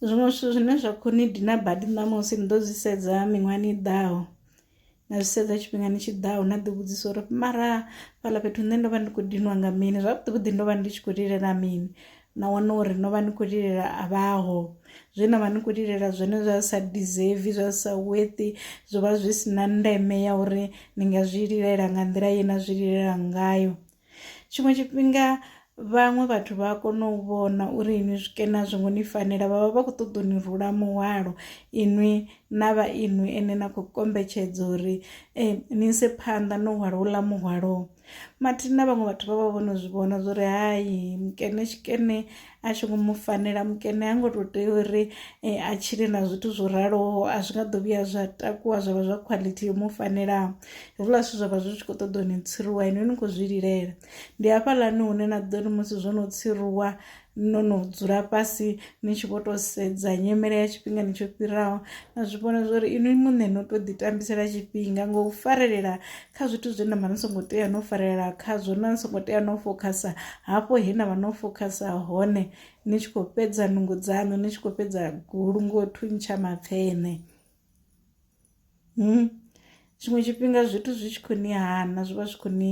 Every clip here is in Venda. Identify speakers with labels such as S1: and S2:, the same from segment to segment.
S1: Zwiṅwe zwithu zwine zwa kho ni dina badi ṋamusi ni ḓo zwi sedza miṅwahani i ḓaho na zwi sedza tshifhingani tshiḓaho na ḓi vhudzisa uri mara fhaḽa fhethu nṋe ndo vha ndi khou dinwa nga mini zwavhuḓi vhuḓi ndo vha ndi tshi khou lilela mini na wana uri no vha ni khou lilela a vhaho zwe na vha ni khou lilela zwone zwa sa deserve zwa sa worthy zwo vha zwi si na ndeme ya uri ni nga zwi lilela nga nḓila ye na zwi lilela ngayo. tshiṅwe tshifhinga vhaṅwe vhathu vha a kona u vhona uri inwi zwikena zwo ngo ni fanela vha vha vha khou ṱoḓa u ni rula muhwalo inwi na vha inwi ene na khou kombetshedza uri um ni ise phanḓa no hwala uḽa muhwalo mathina vhaṅwe vhathu vha vha vho no zwi vhona zwa uri hai mukene tshikene a tshi ngo mu fanela mukene ha ngo to tea uri eh, a tshile na zwithu zwo raloho a zwi nga ḓo vhuya zwa takuwa zwa vha zwa quality yo mu fanelaho hezwiḽa zwithu zwa vha zwi tshi khou ṱoḓa ni tsiruwa ino ni khou zwi lilela ndi hafhaḽani hune na ḓo ri musi zwo no tsiruwa no no dzula fhasi ni tshi vho tou sedza nyimele ya tshifhingani tsho fhiraho na zwi vhona zwori inwi muṋe no tou ḓitambisela tshifhinga ngo farelela kha zwithu zwe na vha ni songo tea no farelela khazwo na ni songo tea no fokhasa hafho he na vha no fokhasa hone ni tshi khou fhedza nungo dzaṋu ni tshi khou fhedza gulu ngo thuntsha mapfene hmm? tshiṅwe tshifhinga zwithu zwi tshi khou ni hana zwi vha zwi khou ni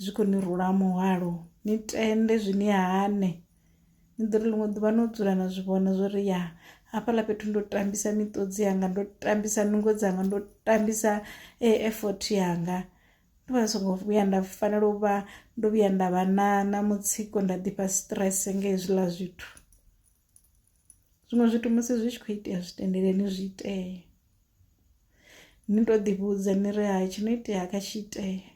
S1: zwi khou ni rula muhwalo ni tende zwi ni hane ni ḓo ri ḽiṅwe ḓuvha no dzula na zwi vhona zwo ri ya hafhaḽa fhethu ndo tambisa miṱodzi yanga ndo tambisa nungo dzanga ndo tambisa eh, effort yanga ndo vha songo vhuya nda fanela u vha ndo vhuya nda vha na na mutsiko nda ḓifha stress nga hezwiḽa zwithu zwiṅwe zwithu musi zwi tshi khou itea zwi tendeleni zwi itee ni to ḓivhudza ni ri ha tshi no itea kha tshi itea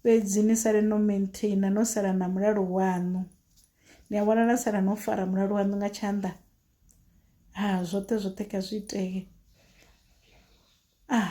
S1: fhedzi ni sale no maintainer no sala na mulalo waṋu ni a vhona na sala no fara mulalo waṋu nga tshanḓa ha zwoṱhe zwoṱhe kha zwi itee ah